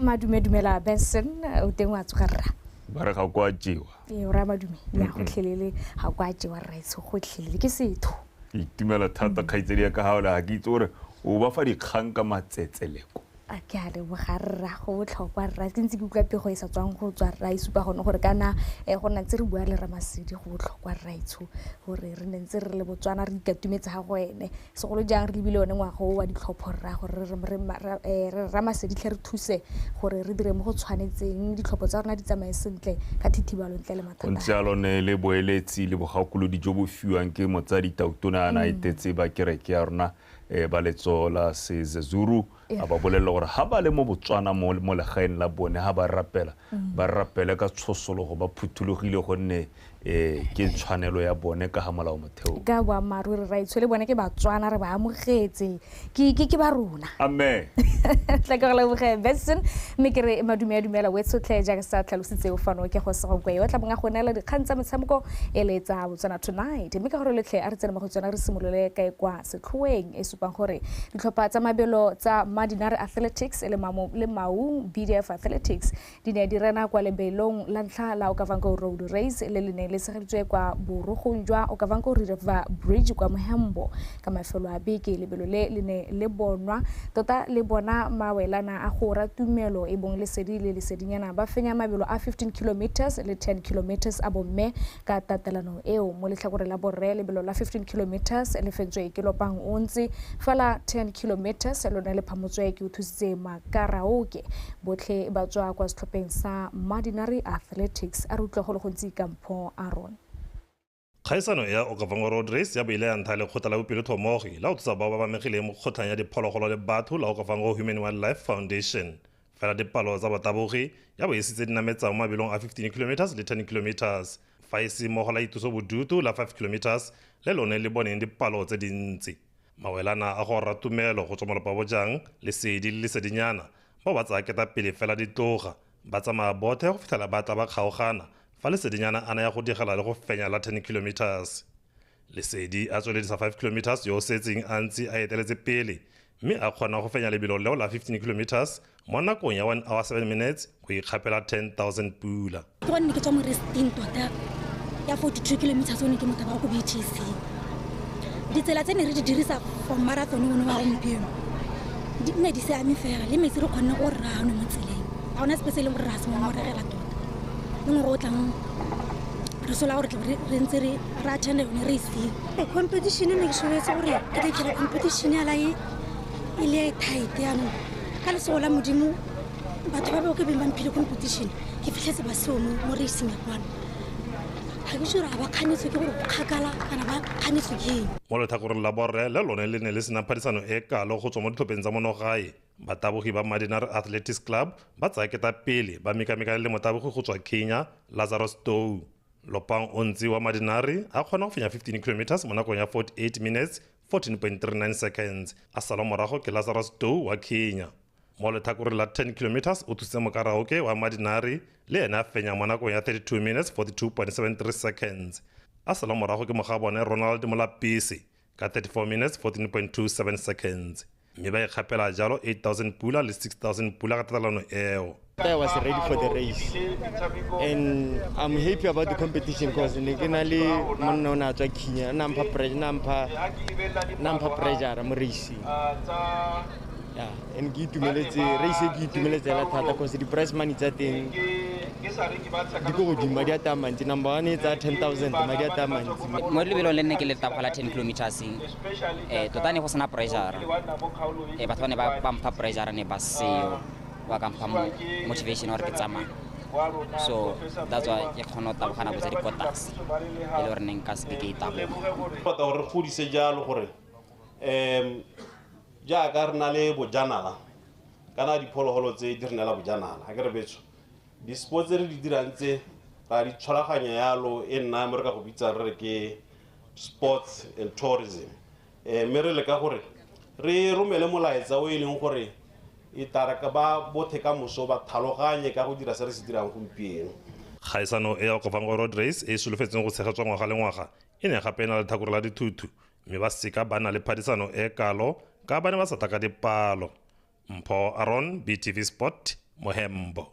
madume dumela benson o teng wa tsoga rra ba re ga kwa jewa ee o raya madume ya gotlhelele ga kwa jewa rra etsho gotlhelele ke setho ke itumela thata kgaitsedi ya ka gaole ga ke itse gore o ba fa dikgang ka matsetseleko a ke a leboga rra go botlhokwa rra ke ntse ke utlwa pego e sa tswang go tswa rra e supa gone gore kana eh, go nna ntse re bua le ramasedi go botlhokwa rra etsho gore re ne ntse re le botswana re ikatumetse ga go ene Segolo jang re lebile one ngwaga o wa ditlhopho rra gore re rra Maseditlhe re thuse gore re dire mo go tshwanetseng ditlhopho tsa rona di tsamaye sentle ka thithibalo ntle le mathata. Gontse jalo ne le boeletsi le bogakolodi jo bo fiwang ke Motsadi Tautona a na etetse ba kereke ya rona ba letso la Sezezuru. a ba bolelela gore ga ba le mo Botswana mo mo legaeng la bone ga ba rapela ba rapele ka tshosologo ba phuthulogile gonne um ke tshwanelo ya bone ka ga molao motheo ka boammaaruri raitsho le bone ke batswana re ba amogetse ke ke- ke ba rona amen tla ke go leboge benson mme ke re madume a dumela wetshotlhe jaaka sa tlhalositseo fano ke go segokwe yo tla bong a go neela dikgang tsa metshameko e le tsa botswana tonight mme ka gore letlhe a re tsene mo go tsona re simolole kae kwa Sekgoweng e supang gore ditlhopha tsa mabelo tsa Madinare Athletics le Maung BDF Athletics di ne di rena kwa lebelong la ntlha la Okavango Road Race le le neng le tshegeditswe kwa borogong jwa Okavango River Bridge kwa Mohembo. Ka mafelo a beke lebelo le le ne le bonwa tota le bona mawelana a Gora Tumelo e bong Lesedi le Lesedinyana ba fenya mabelo a 15 kilometres le 10 kilometres a bomme Ka tatelano eo, mo letlhakoreng la borre lebelo la 15 kilometres le fentswe ke lopang ontsi, fa la 10 kilometres lone le phamotswe ke Uthusitse Makaraoke. Botlhe ba tswa kwa setlhopheng sa Madinari Athletics. A re utlwa go le gontsi ka Mpho Aaron. Kgaisano ya Okavango Road Race ya bo ile ya ntha lekgotla la bopelotlhomogi la go thusa bao ba bamegileng mo kgotlhang ya diphologolo le batho la Okavango Human Wildlife Foundation, fela dipalo tsa batabogi ya bo e sitse dinametsang mo mabelong a 15 kilometers le 10 kilometers fa e se mmogo la ituso bodutu la 5 kilometers le lone le boneng dipalo tse dintsi mawelana a go rra tumelo go tswa molopa bojang lesedi le lesedinyana bao ba tsaya keta pele fela di tloga ba tsamaya bothe go fitlhela ba tla ba kgaogana fa lesedinyana a na ya go digela le go fenya la 10 kilometers lesedi a tsweledisa 5 kilometers yo o setseng a ntse a eteletse pele mme a kgona go fenya lebelo leo la 15 kilometers mo nakong ya 1 hour 7 minutes go ikgapela 10000 pula ke bone ne ke tswa mo resting tota ya 42 kilometers o ne ke motaba wa ko btc ditsela tse ne re di dirisa for marathon one wa gompieno di nne di seame fela le metsi re kgonne o rrano mo tseleng ga ona sepe se e leng gore re a semomoregela tota le ngwe go o tlang re sola gore re ntse re ra channel ne re fee e competition ne ke tshwanetse gore ke tle kere competition ya lae e le e tight yanong ka lesego la modimo batho ba bao ke beng ba mphile competition ke fitlhetse ba seo mo racing ya kwano ga ke sure ga ba kganetswe ke gore kgakala kana ba kganetswe ke eng mo letlhakoreng la borre le lone le ne le sena phadisano e kalo go tswa mo ditlhopheng tsa monogae batabogi ba madinar athletics club ba tsaya keta pele ba mekamekane le motabogi go tswa kenya lazarus tou Lopang o ntsi wa Madinari a kgona go fenya 15 kilometers mo nakong ya 48 minutes 14.39 seconds a salwa morago ke Lazarus Dow wa Kenya. Mo letlhakoreng la 10 kilometers o thusitse mokaraoke wa Madinari le ene a fenya mo nakong ya 32 minutes 42.73 seconds a salwa morago ke mogabone Ronald Molapisi ka 34 minutes 14.27 seconds mme ba ikgapela jalo 8000 pula le 6000 pula ka tatalano eo I was ready for the race and I'm happy about the competition because ne ke na le monna o ne a tswa khinya na mpha pressure na mpha na mpha pressure mo racing and ke itumeletse race e ke itumeletse ela thata cause di-price money tsa teng di ko godimo madi a taya mantsi number one e tsaya ten thousand madi a taya mantsi mo lebelong le nne ke le taboga la ten kilometers um tota ne go sena pressure um batho ba ne ba mpha pressure ne ba seo ba ka mpha motivation gore ke tsamaya so that's why ke kgona go tabogana bo tsa dipotase e le gore ne nka seke ke e taboga tota gore re godise jalo gore um jaaka re na le bojanala kana diphologolo tse di re neela bojanala a ke re betso di-sport tse re di dirang tse ra di tshwaraganya yalo e nna mo re ka go bitsang re re ke sports and tourism um mme re leka gore re romele molaetsa o e leng gore e tare ka ba bothe ka moso ba tlhaloganye ka go dira se re se dirang gompieno Kgaisano e ya Okafangwa Road Race e e solofetsweng go tshegetswa ngwaga le ngwaga e ne gape e na le tlhakore la dithuthu mme ba seka ba na le phadisano e kalo ka ba ne ba sa tla ka dipalo mpho aron btv sport mohembo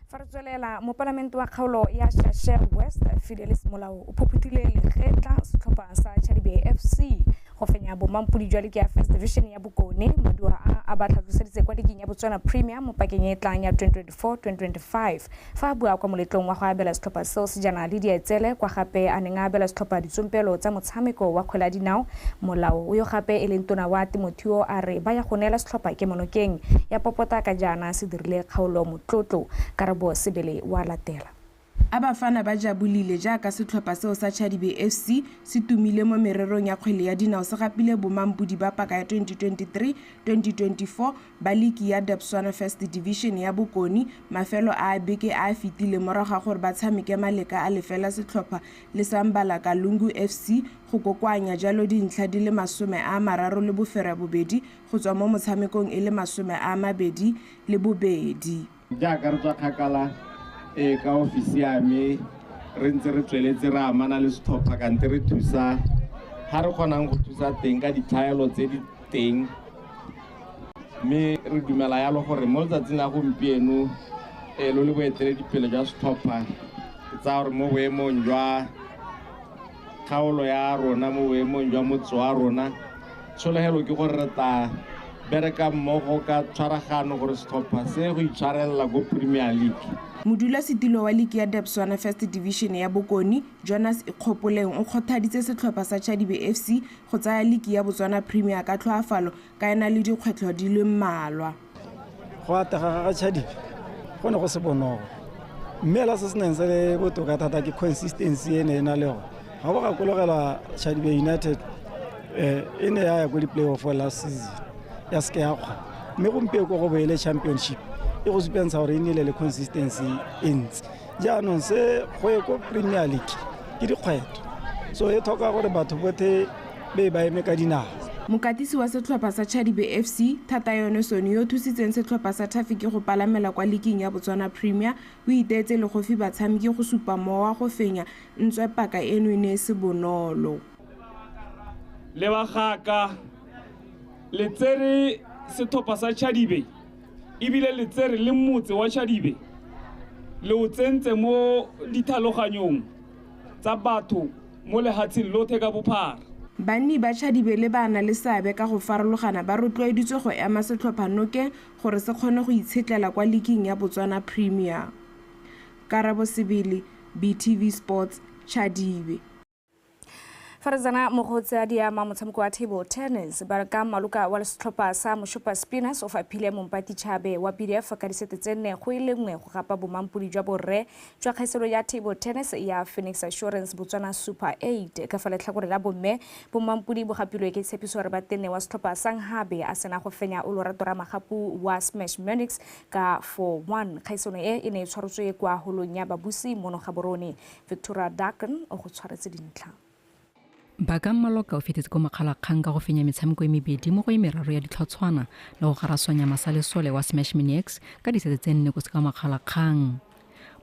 fa re tswelela mopalamente wa kgaolo ya shasher west fidelis molao o phophuthile lekgetla setlhopha sa chadibe fc go fenya bomampodi jwa leke ya first division ya bokone maduwa a a ba tlhatlhoseditse kwa ligeng ya botswana premium mo pakeng e e tlang ya 2024 2025 fa a bua kwa moletlong wa go abela setlhopha seo sejana le dietsele kwa gape a neng a abela setlhopha ditsompelo tsa motshameko wa kgwele ya dinao molao yo gape e leng tona wa temothio a re ba ya go neela setlhopha kemonokeng ya popota ka jaana se dirile kgaolo motlotlo karabo sebele wa latela A Bafana ba jabolile jaaka setlhopha seo sa Chadibe FC se tumile mo mererong ya kgwele ya dinao se gapile bomampodi ba paka ya 2023, 2024 ba liki ya Debswana First Division ya Bokone mafelo a a beke a a fetileng morago ga gore ba tshameke maleka a lefela setlhopha le sa Mbala Kalungu FC go kokoanya jalo dintlha di le masome a mararo le bofereabobedi go tswa mo motshamekong e le masome a mabedi le bobedi. Jaaka re tswa kgakala ee ka ofisi ya me re ntse re tsweletse re amana le setlhopha kante re thusa ga re kgonang go thusa teng ka ditlhaelo tse di teng mme re dumela yalo gore mo letsatsing la gompieno e lo le boeteledipele jwa setlhopha ke tsaya gore mo boemong jwa kgaolo ya rona mo boemong jwa motse wa rona tsholegelo ke gore re tla bereka mmogo ka tshwaragano gore setlhopha se go itshwarelela ko premier league modulasetilo wa liki ya debswana first division ya bokone jonas ikgopoleng o kgothaditse setlhopha sa chadibe fc go tsaya liki ya botswana premier ka tlhoafalo ka ena le dikgwetlho di le mmalwa go atega ga chadibe go ne go se bonolo mme ela se se neng se le botoka thata ke consistency e ne e na le yone ga go gakologelwa chadibe united eh, e ne ya ya ko di-playoff last season ya seke ya kgwa mme gompieko ko go boele championship e go supentsha gore e nnile le consistency e ntsi jaanong se go ye ko premier league ke dikgwetlho so e tlhoka gore batho bothe be ba eme ka dinao Mokatisi wa setlhopha sa Chadibe FC, Thatayone Soni yo o thusitseng setlhopha sa Thafiki go palamela kwa liking ya Botswana Premier, o iteetse legofi batshameki go supa mowa go fenya, ntswe paka eno e ne e se bonolo. Le ba ga ka le tsere setlhopha sa Chadibe ebile le tsere le motse wa Chadibe le o tsentse mo dithaloganyong tsa batho mo lehatsheng lothe ka bophara. Banni ba Chadibele ba na le seabe ka go farologana ba rotloeditswe go ema setlhopha noke gore se kgone go itshetlela kwa liking ya Botswana Premier. Karabo Sebele, BTV Sports, Chadibe. Farizana Mogotsi a diama motshameko wa table tennis ba re ka maloka wa setlhopha sa Moshopa Spinners o faphile Mompati Chabe wa BDF ka disete tse nne go e le nngwe go gapa bomampodi jwa borre jwa kgeselo ya table tennis ya Phoenix Assurance Botswana Super 8 ka fa letlhakore la bomme. Bommampodi bo gapilwe ke tshepiso gore ba tenne wa setlhopha sa Nghabe a sena go fenya o lorato ra magapu wa Smash Munix ka 4-1. Kgaisano e e ne e tshwarotswe kwa holong ya Babusi mono Gaborone. Victoria Dagen o go tshwaretse dintlha. Baka Maloka o fetetse ko Mokgalakgang ka go fenya metshameko e mebedi mo go e meraro ya ditlhotshwana le go garaswanya masalesole wa Smash Maniacs ka disete tse nne ko se ka Makgalakgang.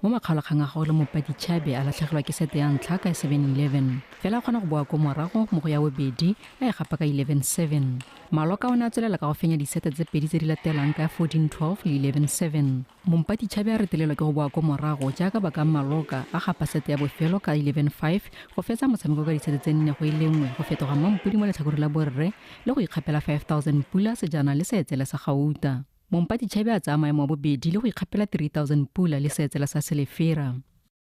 Mo makgalakgang a gagwe le Mopadi Chabe a latlhegelwa ke sete ya ntlha ka 7-11. Fela a kgona go boa ko morago mo go ya bobedi a e gapa ka 11-7. Maloka o ne a tswelela ka go fenya disete tse pedi tse di latelang ka 14-12 le 11-7. Mompatitšhabe a retelelwa ke go boa ko morago jaaka ba ka mmaloka a gapa sete ya bofelo ka 11-5 go fetsa motshameko ka disete tse nne go e lengwe go fetoga mmampodi mo letlhakore la borre le go ikgapela 5000 pula sejana le seetsele sa gauta. Mompatitšhabe a tsaya maemo a bobedi le go ikgapela 3000 pula le seetsele sa selefera.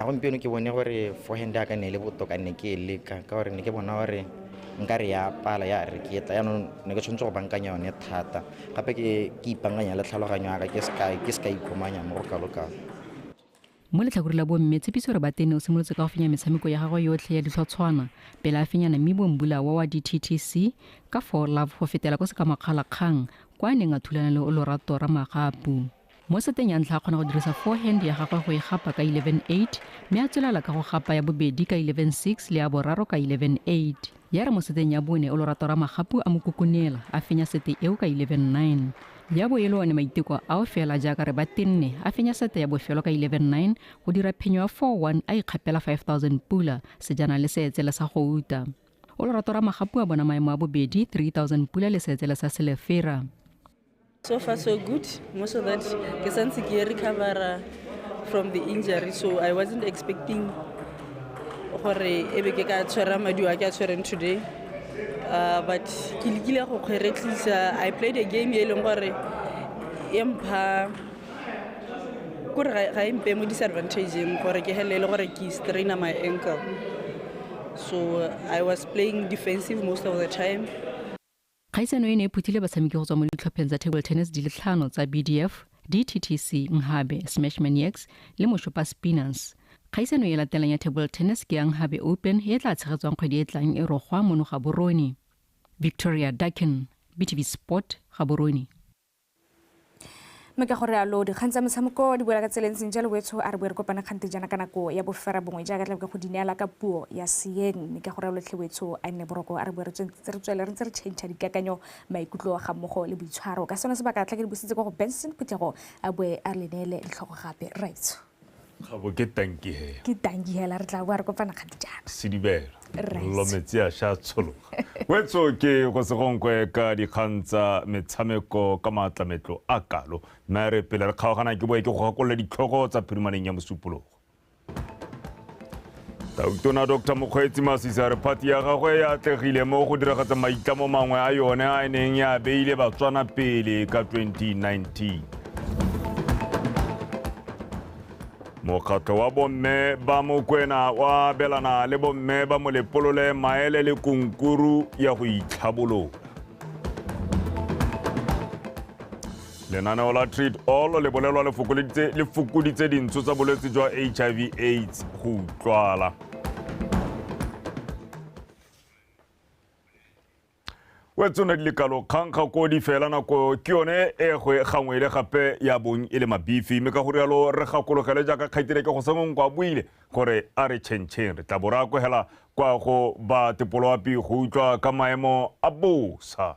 a gompieno ke bone gore forehand ya ka ne e le botoka ne ke e leka ka gore ne ke bona gore nka re ya pala ya re ke etla yaanong ne ke tshwanetse go bankanya yone thata gape ke ke ipankanya le tlhaloganyo ya ka ke seka ke seka ikhomanya mo go kalokalo mo letlhakore la bomme tshepiso re batene o simolotse ka go fenya metshameko ya gagwe yotlhe ya ditlhotshwana pele a fenyana mme bombula wa wa dttc ka for love go fetela ko sekamakgalakgang kwa a neng a thulana le o lorato ra magapu Mo seteng ya ntlha a kgona go dirisa forehand ya gagwe go e gapa ka 11-8 mme a tswelela ka go gapa ya bobedi ka 11-6 le ya boraro ka 11-8. Ya re mo seteng ya bone o Lorato Ramagapu a mo kukunela a fenya sete eo ka 11-9. Ya bo e le one Maiteko ao fela jaaka re ba tenne a fenya sete ya bofelo ka 11-9 go dira phenyo ya 4-1 a ikgapela 5000 pula sejana le seetsele sa go uta. O Lorato Ramagapu a bona maemo a bobedi 3000 pula le seetsele sa Selefera. So far so good. Most of that ke santse ke recovera from the injury so I wasn't expecting gore ebe ke ka tshwera madi a ke a tshwereng today. Uh, but ke lekile go kgweretlisa I played a game e leng gore e mpha kore ga e mpe mo disadvantageng gore ke hele e le gore ke straina my ankle so I was playing defensive most of the time. Kgaisano e ne e phuthile batshameki go tswa mo ditlhopheng tsa table tennis di le tlhano tsa BDF, DTTC, Nghabe, Smashman Yaks le Moshopa Spinners. Kgaisano e e latelang ya table tennis ke ya Nghabe Open e e tla tshegetswang kgwedi e e tlang e rogwa mono Gaborone. Victoria Dakin, BTB Sport, Gaborone. mme ka gore alo dikgang tsa metshameko di boela ka tseleng seng jalo wetsho a re boe re kopana kgante jana ka nako ya bofera bongwe jaaka tlabe ke go dineela ka puo ya seeng mme ka gore alo tlhe wetsho a nne boroko a re boe re tswentse re tswele re ntse re change dikakanyo maikutlo ga mmogo le boitshwaro ka sone sebaka tla ke di busitse kwa go benson phuthego a boe a le neele ditlhogo gape raitso gabo ke tanki hela ke tanki hela re tla boa re kopana kgadijana sedibela lo metsi a sha tshologa wetso ke go segonkwe ka dikgang tsa metshameko ka maatlametlo a kalo mme a re pele re kgaogana ke boe ke go gakolola ditlhogo tsa phirimaneng ya mosupologo tona dr mokgweetsi masisi a re phati ya gagwe e atlegile mo go diragatsa maitlamo mangwe a yone a e neng ya beile batswana pele ka 2019 mokgatlho wa bomme ba mokwena wa abelana le bomme ba molepolole maele le kunkuru ya go itlhabolola lenaneo la treat all le bolelwa le fokoditse dintsho tsa bolwetse jwa hiv aids go utlwala o etse ne dilekalo kgankga ko di fela nako ke yone e gwe gangwe le gape ya bong e le mabifi mme ka go rialo re gakologele jaaka kgaitile ke go sengong kwa buile gore a re tšhentšheng re tla bo re akogela kwa go ba tepoloapi go utlwa ka maemo a bosa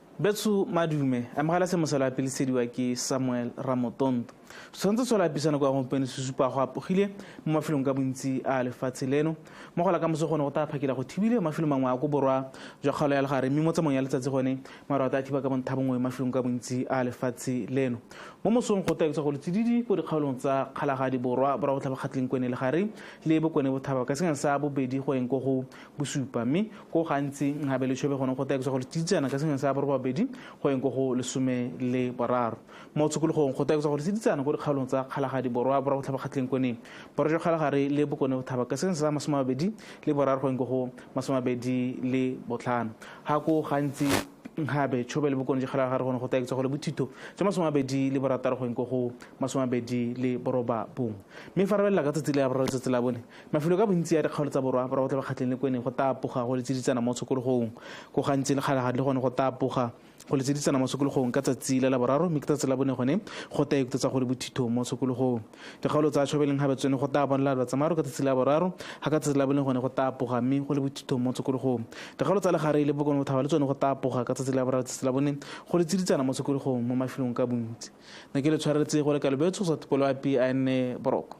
Betso madume, amogela se mosala wa pele sediwa ke Samuel Ramotondo. Setshwantsho se lapisana kwa gompieno se supa go apogile mo mafelong ka bontsi a lefatshe leno. Mo gola ka moso gone go tla phakela go thibile mo mafelong mangwe a ko borwa jwa kgaolo ya legare mme mo tsamong ya letsatsi gone maru a tla thiba ka bontha bongwe mafelong ka bontsi a lefatshe leno. Mo mosong go taetswa go letsididi ko dikgaolong tsa kgalagadi borwa borwa botlhabakgatleng kwene legare le bokone bothaba ka senyang sa bobedi go eng ko go bosupa mme ko gantsi gabe le tshobe gone go taekisa gore tsiditsana ka sengwe sa borobabedi go yeng ko go lesome le boraro mo tshokologong go taekisa gore tsiditsana ko dikgaolong tsa kgalagadi borwa borwa botlhabakgatlheng kone borwa jwa kgalagare le bokone bothaba ka sengwe sa masome mabedi le boraro go yeng ko go masome mabedi le botlhano ga ko gantsi gabe tshobe le bokone jwa kgalagare gone go taekisa gore bothitho jwa masome mabedi le borataro go yeng ko go masome mabedi le boroba bongwe mme fa re belela ka tsatsi le ya boraro tsatsi la bone Mafelo ka bontsi a dikgaolo tsa Borwa ba tle ba kgatlheng le ko e neng go tapoga go le tsiditsana mo tshokologong. Ko gantsi le kgale ga tle gone go tapoga go le tsiditsana mo tshokologong ka tsatsi la laboraro mme ke tsatsi la bone gone go ta ikutsetsa go le bothitho mo tshokologong. Dikgaolo tsa Tšhwabeleng gabe tsone go ta bonala lwa tsamaro ka tsatsi la boraro ga ka tsatsi la bone gone go tapoga mme go le bothitho mo tshokologong. Dikgaolo tsa Legareng le Bokone Bothaba le tsone go tapoga ka tsatsi la boraro tsatsi la bone go le tsiditsana mo tshokologong mo mafelong ka bontsi. Ne ke le tshwaretse go le kalo Betso Satupoloapi a ene boroko.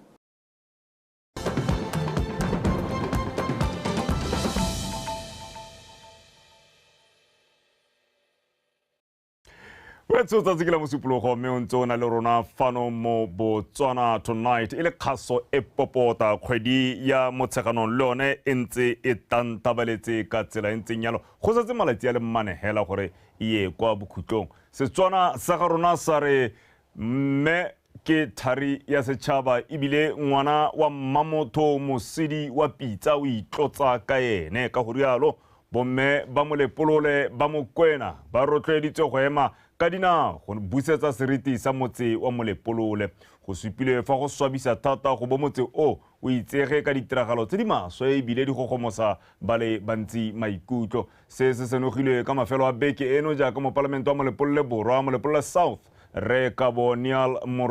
o etse o tsatsi ke la mosupologo mme o ntse o na le rona fano mo botswana tonight e le kgaso e popota kgwedi ya motsheganong le yone e ntse e tantabaletse ka tsela e ntseng yalo go setse malatsi a le mmane fela gore e ye kwa bokhutlong setswana sa ga rona sa re mme Ke thari ya setšhaba ebile ngwana wa mmamotho mosidi wa pitsa o itlotsa ka ene, ka go rialo bomme ba Molepolole ba Mokwena ba rotloeditswe go ema ka dinao go busetsa seriti sa motse wa Molepolole. Go supilwe fa go swabisa thata go bo motse o o itsege ka ditiragalo tse di maswe ebile di gogomosa ba le bantsi maikutlo. Se se senogilwe ka mafelo a beke eno jaaka mopalamente wa Molepolole Borwa, Molepolole South, Rre Kabo Neal